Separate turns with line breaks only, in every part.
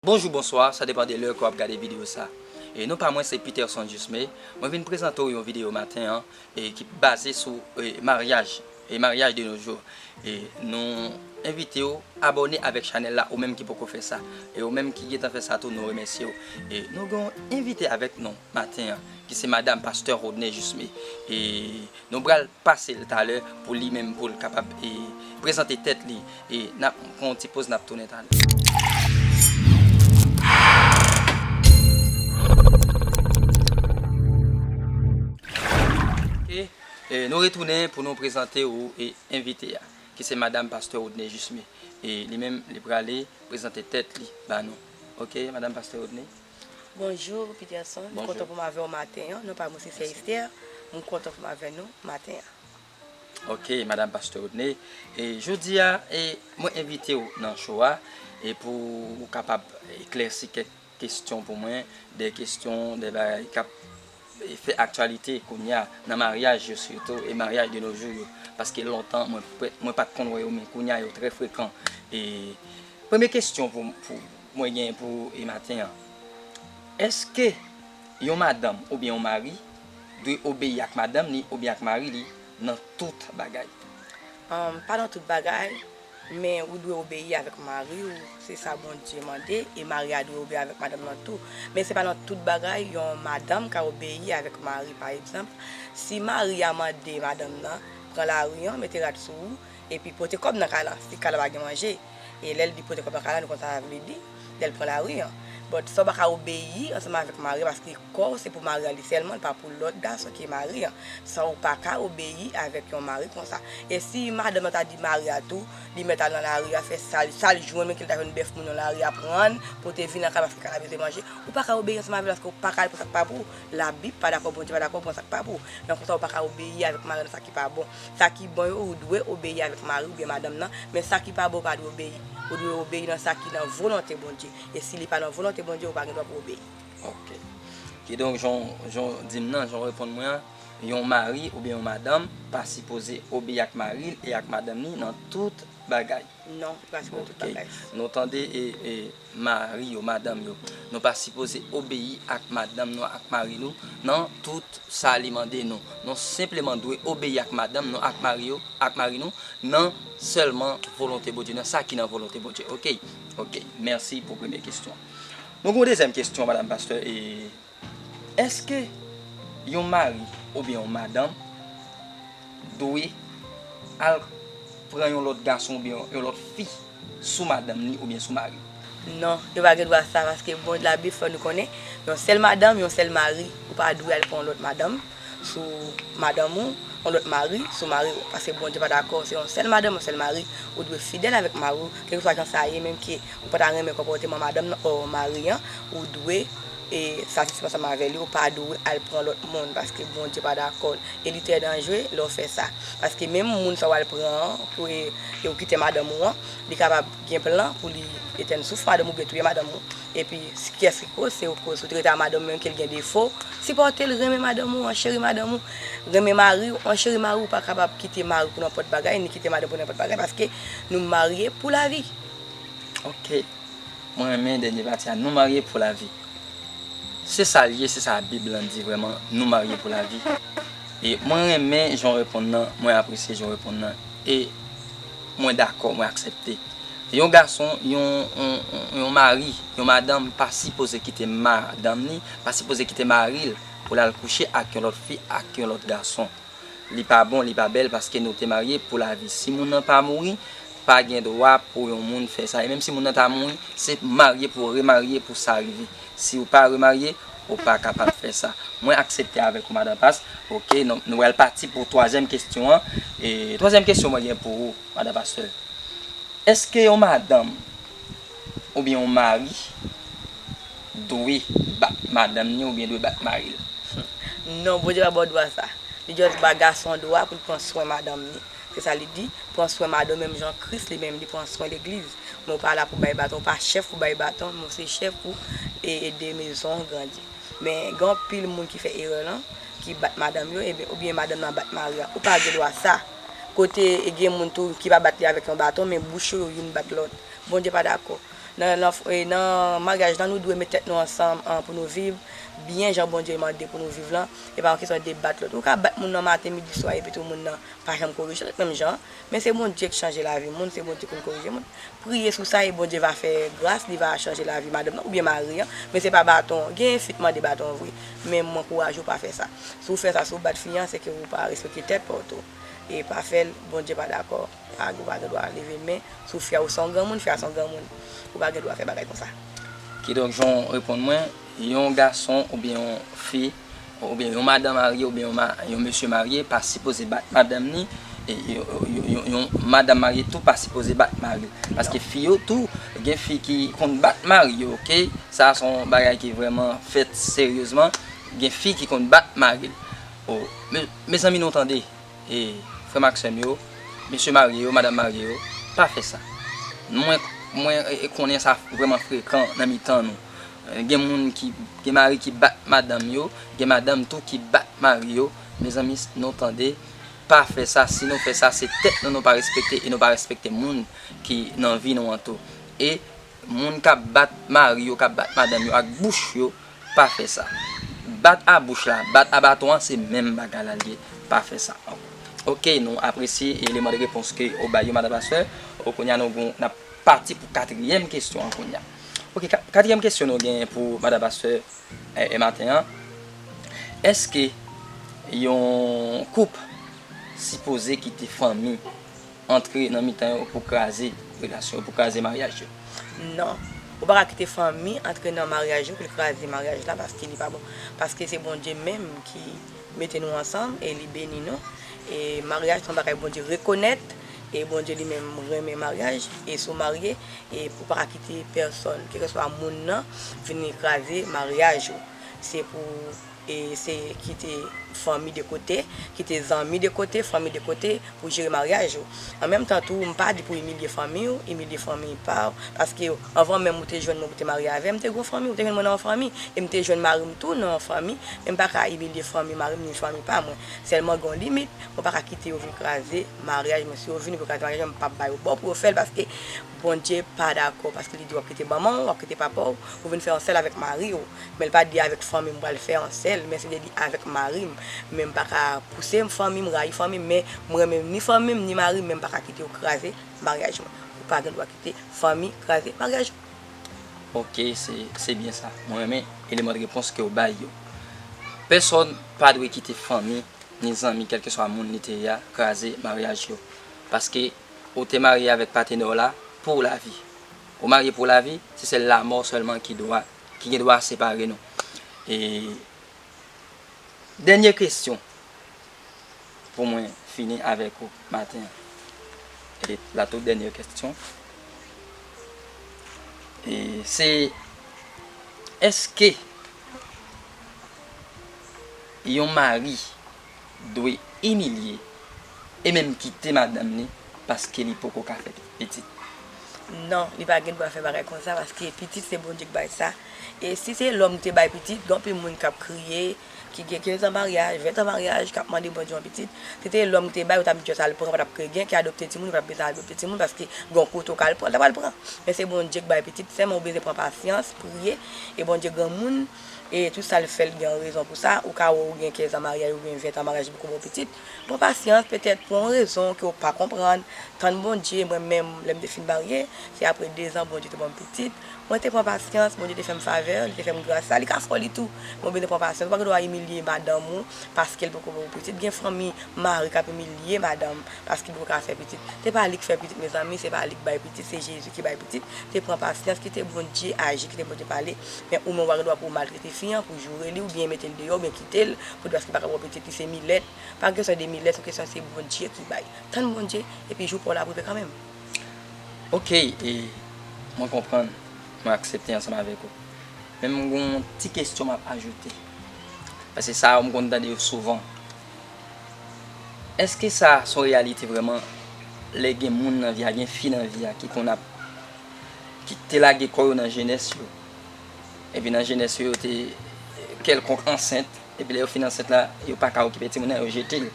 Bonjou bonswa sa depan de lè ke wap gade video sa e non pa mwen se Peterson Jusme mwen vin prezante w yon video maten an e ki baze sou e maryaj e maryaj de nos jours e nou envite w abòne avèk chanèl la ou menm ki poko fè sa e ou menm ki gentan fè sa tou nou remèsye w e nou gen yon envite avèk nou maten an ki se madam pastè Rodney Jusme e Nou pral pase l talè pou li menm pou l kapab prezante tèt li. Nap pran yon ti poz nap tounen talè. Ok nou retounen pou nou prezante ou envite a ki se madam pastè Rodney Jusme. Li menm li prale prezante tèt li ba nou. Ok madam pastè Rodney. Bonjour
Peterson m kontan poum avèw maten an non pa mwen se sè Esther m kontan poum avè nou maten an. Ok
madam pastè Rodney e jodia e mwen envitew nan cho a e pou ou kapab eklèsi kèk kestyon pou mwen de kestyon de bagay kap fè aktyalite kounya nan maryaj yo sitou e maryaj de no jou yo paske lontan mwen pat konn wè yo men kounya yo trè frekan e premye kestyon pou Mwen gen pou e maten an. Eske yon madanm oubyen yon mari dwe obeyi ak madanm li oubyen ak mari li nan tout bagay? Humm pa
nan tout bagay, men ou dwe obeyi avèk mari ou, se sa Bondye mande, e mari a dwe obeyi avèk madanm nan tou. Men se pa nan tout bagay yon madanm ka obeyi avèk mari pa egzanp, si mari a mande madanm nan pran lari an mete rad sou ou, Epi pote kòb nan kay la. Si kay la pa gen manje. E lè li pote kòb nan kay la nou konn sa sa vle di. Lè l pran lari an. But sa w pa ka obeyi ansanm avèk mari w paske kò w se pou mari w li sèlman l pa pou lòt gason ki mari an. Sa w pa ka obeyi avèk yon mari konsa. E si madanm nan ta di mari a tou li mèt al nan lari a fè sa l sa l jwenn menm ke l ta jwenn bèf moun nan lari a prann pote vin nan kay la paske kay la bezwen manje ou pa ka obeyi ansanm avè l paske w pa ka al pran sa k pa pou w. Labib pa dakò Bondye pa dakò w pran sa k pa pou w. Nan konsa w pa ka obeyi avèk mari w nan sa ki pa bon. Sa ki bon yo, ou dwe obeyi avèk mari oubyen madanm nan, men sa ki pa bon ou pa dwe obeyi. Ou dwe obeyi nan sa ki nan volonte Bondye. E si li pa nan volonte Bondye, ou pa gen dwa pou w obeyi. Ok.
Kidonk, jan w, jan w di m nan, jan w reponn mwen an, yon mari oubyen yon madanm pa sipoze obeyi ak mari l e ak madanm li nan tout bagay. Non, li pa se
pou tout bagay. Ok, nou tande e
mari yo, madanm yo, nou pa sipoze obeyi ak madanm nou ak mari nou nan tout sa li mande nou. Nou senpleman dwe obeyi ak madanm nou ak mari yo, ak mari nou, nan sèlman volonte Bondye, nan sa ki nan volonte Bondye. Ok, ok, mèsi pou premye kestyon. Nou gen yon dezyèm kestyon, madam pastè e Èske yon mari oubyen yon madanm dwe al pran yon lòt gason oubyen yon lòt fi sou madanm li oubyen sou mari l? Non, yo pa
gen dwa sa paske Labib fè nou konnen yon sèl madanm, yon sèl mari. Ou pa dwe al pran yon lòt madanm. sou madanm ou, yon lòt mari sou mari ou, paske Bondye pa dakò se yon sèl madanm, yon sèl mari, ou dwe fidèl avèk mari ou, kèlkeswa jan sa ye, menm ke ou pa ta renmen konpòteman madanm nan or mari an, ou dwe e satisfè ansanm avè li, ou pa dwe al pran lòt moun, paske Bondye pa dakò l, e li trè danjre lè w fè sa, paske menm moun sa w al pran an, pou e ou kite madanm ou an, li kapab gen plan pou li etèn souf madanm ou oubyen touye madanm ou. Epi kyès ki koz, se ou koz. Ou te rete a madanm ou menm ke l gen defo, sipòte l, renmen madanm ou an, cheri madanm ou, renmen mari ou an, cheri mari ou pa kapab kite mari pou nenpòt bagay, ni kite madanm pou nenpòt bagay paske nou marye pou lavi. Ok.
Mwen renmen dènye pati a, nou marye pou lavi. Se sa l ye, se sa Bib lan di vrèman, nou marye pou lavi. E mwen renmen jan w reponn nan, mwen apresye jan w reponn nan. E Mwen dakò, mwen aksepte. Yon gason, yon yon mari, yon madanm pa sipoze kite madanm li, pa sipoze kite mari l pou l al kouche ak yon lòt fi, ak yon lòt gason. Li pa bon, li pa bèl paske nou te marye pou lavi. Si moun nan pa mouri, pa gen dwa pou yon moun fè sa. E menm si moun nan ta mouri, se marye pou remarye pou sa rive. Si ou pa remarye, Ou pa kapab fè sa. Mwen aksepte avèk ou Madan Pas. Ok, nou pral pati pou twazyèm kesyon an. Twazyèm kesyon mwen gen pou ou Madan Pastè. Eske yon madanm oubyen yon mari dwe bat madanm ni oubyen dwe bat mari l? Non,
Bondye pa ba w dwa sa. Li just ba gason dwa pou l pran swen madanm ni. Se sa li di, Pran swen madanm menm jan Kris li menm li pran swen legliz. Men w pa la pou bay baton, ou pa chèf pou bay baton, men w se chèf pou ede mezon an grandi. Men gen anpil moun ki fè erè lan, ki bat madanm yo, eben oubyen madanm nan bat mari a. Ou pa gen dwa sa. Kote gen moun tou ki pa bat li avèk yon baton, men bouch yo youn bat lòt. Bondye pa dakò. Nan maryaj lan nou dwe met tèt nou ansanm pou nou viv byen jan Bondye mande pou nou viv lan, e pa yon kesyon de bat lòt. Ou ka bat moun nan maten, midi, swa epitou moun nan pa janm korije lòt menm jan an. Men se Bondye k chanje lavi moun, se Bondye konn korije moun. Priye sou sa e Bondye va fè gras, li va chanje lavi madanm nan oubyen mari an. Men se pa baton, genyen fi k mande baton vre. Men mwen ankouraje w pa fè sa. Si w fè sa, si w bat fi an, se ke ou pa respekte tèt pa w tou. E pa fè l, Bondye pa dakò. Paga ou pa gen dwa leve men sou Fia ou se yon granmoun Fia se yon granmoun ou pa gen dwa fè bagay konsa. Kidonk jan
w reponn mwen, yon gason oubyen yon fi oubyen yon madan marye oubyen yon mesye marye pa sipoze bat madanm ni yon madanm marye tou pa sipoze bat mari l paske fi yo tou gen fi ki konn bat mari yo ok sa a se yon bagay ki vrèman fèt seryezman gen fi ki konn bat mari l oh mezanmi nou tande. E, frè m ak sè m yo, mesye marye yo, madam marye yo, pa fè sa. Mwen, mwen konnen sa vrèman frekan nan mitan nou. Gen moun ki, gen mari ki bat madanm yo, gen madanm tou ki bat mari yo. Mezanmi, nou tande, pa fè sa. Si nou fè sa, se tèt nou nou pa respekte e nou pa respekte moun ki nan vi nou an tou. E, moun k ap bat mari yo, k ap bat madanm yo ak bouch yo, Pa fè sa. Bat a bouch la, bat a baton an se menm bagay la liye. Pa fè sa ankò. Ok nou apresye eleman de repons ke ou bay yo Madam la Sè. Ok kounya nou gon nap pati pou katriyèm kesyon an kounya. Ok katriyèm kesyon nou genyen pou Madam la Sè e maten an. Eske yon koup sipoze kite fanmi Antre nan mitan yo pou kraze relasyon yo, pou kraze maryaj yo. Non.
Ou pa ka kite fanmi antre nan maryaj yo pou l kraze maryaj la paske li pa bon. Paske se Bondye menm ki mete nou ansanm e li beni nou. E maryaj se yon bagay Bondye rekonèt e Bondye li menm renmen maryaj. E si w marye, e ou pa ka kite pèsòn, kèlkeswa moun nan, vini kraze maryaj ou. Se pou. E se kite fanmi de kote, kite zanmi de kote, fanmi de kote pou jere maryaj ou. An menm tan tou, m pa di pou imilye fanmi ou, imilye fanmi pa ou, paske anvan menm ou te jwenn mwen pou te marye avè m, m te gon fanmi, ou te jwenn mwen nan yon fanmi, e m te jwenn mari m tou nan yon fanmi, men m pa ka imilye fanmi mari m ni fanmi pa mwen. Sèlman gen yon limit, mwen pa ka kite yo vin kraze maryaj mwen. Si yo vin kraze maryaj mwen, m p ap ba yo bò pou yo fè l paske. Bondye pa dakò paske li di wap kite manman w, wap kite papa w, pou vin fè yon sèl avèk mari w. Men li pa di avèk fanmi m pral fè yon sèl, men se li di avèk mari m. Men m pa ka pouse fanmi m rayi fanmi m, men m renmen ni fanmi m ni mari m men m pa ka kite yo kraze maryaj mwen. Ou pa gen dwa kite fanmi kraze maryaj ou. Ok
se se byen sa. Mwen renmen eleman de repons ke w bay yo. Pèsòn pa dwe kite fanmi ni zanmi kèlkeswa moun li te ye a kraze maryaj yo. Paske Ou te marye avèk patenè w la pou lavi. Ou marye pou lavi, se sèl lamò sèlman ki dwa, ki gen dwa separe nou. E dènye kesyon pou mwen fini avèk ou maten an. E la tout dènye kesyon. E se èske yon mari dwe imilye e menm kite madanm li paske li poko ka fè pitit. Non,
li pa gen dwa fè bagay konsa paske pitit se Bondye k bay sa e si se lòm te bay pitit, gen anpil moun kap kriye ki gen 15 an maryaj, 20 an maryaj kap mande Bondye yon pitit, si te lòm te bay ou tap di jès al pran ou patap k gen ki adopte timoun ou patap bezwen adopte timoun paske gon kote ou ka al pran ou ta pral pran men se Bondye k bay pitit sèlman ou bezwen pran pasyans priye e Bondye granmoun. e tout sa l fè l gen yon rezon pou sa, ou ka wè ou gen 15 an maryaj oubyen 20 an maryaj depi w gen pitit, pran pasyans petèt pou yon rezon ke w pa konprann, tann Bondye, mwen menm lè m te fin marye, se aprè 2 zan Bondye te ban m pitit, mwen te pran pasyans, Bondye te fè m favè, li te fè m gras sa, li ka fè w li tou, men ou bezwen pran pasyans, ou pa gen dwa imilye madanm ou paske l poko ba w pitit, gen fanmi, mari k ap imilye madanm paske li poko ka fè pitit, se pa li k fè pitit mezanmi, se pa li k bay pitit, se Jezi ki bay pitit, te pran pasyans, kite Bondye aji, kite Bondye pale. Men ou menm ou pa gen dwa pou ou maltrete fi an, pou joure li, oubyen mete l deyò, oubyen kite l, pou di paske li pa ka ba w pitit li se milèt. Pa kesyon de milèt, se yon kesyon se Bondye ki bay. Tann Bondye, epi jou pa w la ap rive kanmenm. Ok,
e, mwen konprann, mwen aksepte ansanm avèk ou. Men m gen yon ti kesyon m ap ajoute. Paske sa yo m konn tande yo souvan. Eske sa se yon reyalite vrèman, lè gen moun nan vi a, gen fi nan vi a ki konn ap. ki te lage kò yo nan jenès yo, epi nan jenès yo yo te kèlkonk ansent, epi lè yo fin ansent la, yo pa ka okipe timoun nan, yo jete l.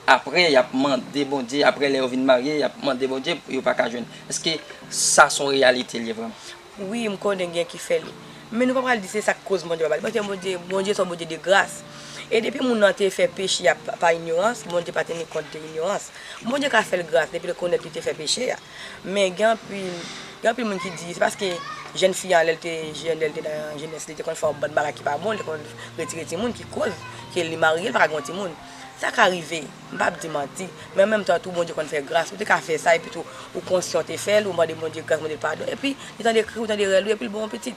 Apre, y ap mande Bondye, apre lè yo vin marye, y ap mande Bondye, yo pa ka jwenn. Èske sa s on reyalite l ye vrèman? Wi,
m konnen gen ki fè li. Men nou pa pral di se sa k koz Bondye pa ba li, paske Bondye, Bondye se yon Bondye de gras. E depi moun nan te fè peche a pa inyorans, Bondye pa teni kont de inyorans. Bondye ka fè l gras depi l rekonèt li te fè peche a. Men gen anpil gen anpil moun ki di se paske jèn fi an lè l te jèn, lè l te nan jenès li te konn fè yon bann bagay ki pa bon, li te konn retire timoun ki koz ke li marye li pa ka gen yon timoun. Sa ka rive, m pa ap di manti, men an menm tan tou Bondye konn fè gras, ou te ka fè sa epi tou ou konsyan ou te fè l, ou mande Bondye gras, mande l padon epi li tande kri ou, tande rèl ou epi l ba w yon pitit.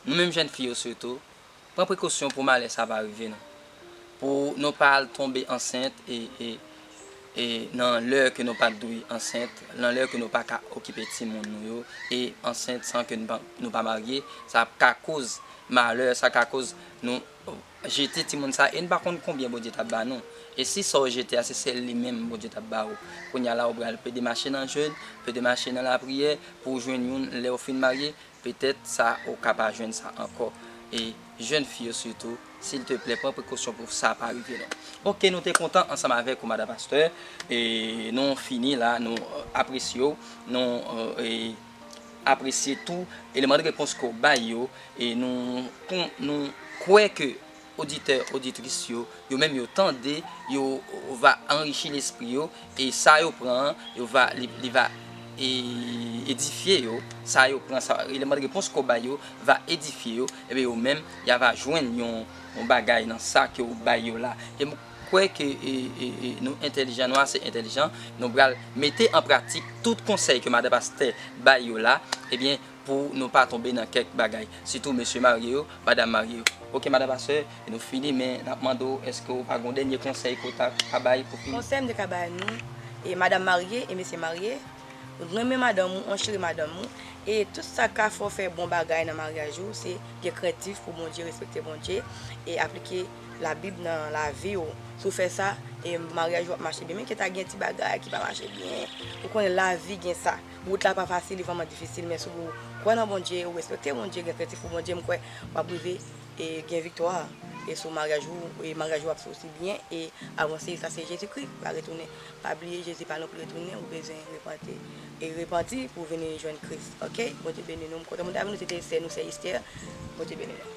Nou menm jèn fi yo sitou, Pran prekosyon pou malè sa pa rive nou. Pou nou pa al tonbe ansent e nan lè ke nou pat dwe ansent, nan lè ke nou pa ka okipe timoun nou yo e ansent san ke nou pa marye, sa ka koz malè, sa ka koz nou jete timoun sa e nou pa konn konbyen Bondye ta ba nou. E si sa ou jete a se sèl li menm Bondye ta ba ou. Kounya la ou pral plede mache nan jèn, plede mache nan lapriyè pou ou jwenn youn lè ou fin marye, Petèt sa ou ka pa jwenn sa ankò. E jèn fi yo sitou, silteplè pran prekosyon pou sa pa rive nou. Ok nou te kontan ansanm avèk ou Madan Pastè. E nou fini la, nou apresye w, nou apresye tou eleman de repons ke w bay yo. E nou kwè ke. Oditè, oditris yo, yo menm yo tande, yo va anrichi lespri yo, e sa yo pran an, yo va, li va edifye yo, sa yo pran, sa, eleman de repons ke w bay yo, va edifye yo, enben yo menm, ya va jwenn yon bagay nan sa ke w bay yo la. E m kwè ke nou entèlijan, nou ase entèlijan, nou pral mete an pratik tout konsèy ke Madan Pastè bay yo la, ebyen, pou nou pa tonbe nan kèk bagay sitou mesye marye yo, madam marye yo. Ok madam pastè nou fini men nap mande w eske w pa gon dènye konsèy ke w ta ka bay pou fini. Konsèy m te ka bay nou
e madam marye e mesye marye, renmen madanm ou ancheri madanm ou e tout sa ka fè w fè bon bagay nan maryaj ou se gen krentif pou Bondye respekte Bondye e aplike la bib nan lavi w si w fè sa e maryaj ou ap mache byen menm ke ta gen ti bagay ki pa mache byen ou konnen lavi gen sa. Wout la pa fasil li vrèman difisil men si w kwè nan Bondye ou respekte Bondye gen krentif pou Bondye m kwè wap rive gen viktwa e sou maryaj ou e maryaj ou ap soti byen e avanse sa se Jezi Kris pa retounen pa bliye Jezi pa nonpli retounen ou bezwen repante e repanti pou vini jwenn Kris ok Bondye beni nou m kontan pou nou ta vini nou se te sè nou sè Esther Bondye beni nou.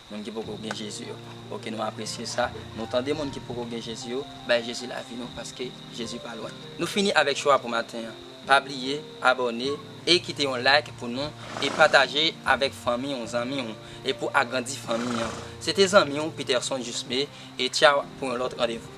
Moun ki poko gen Jezi yo. Ok nou apresye sa. Nou tande moun ki poko gen Jezi yo, bay Jezi lavi nou paske Jezi pa lwen. Nou fini avèk show a pou maten an. Pa bliye abòne e kite yon like pou nou e pataje avèk fanmi ou zanmi ou e pou agrandi fanmi an. Se te zanmi ou Peterson Jusme e tchaw pou yon lòt randevou.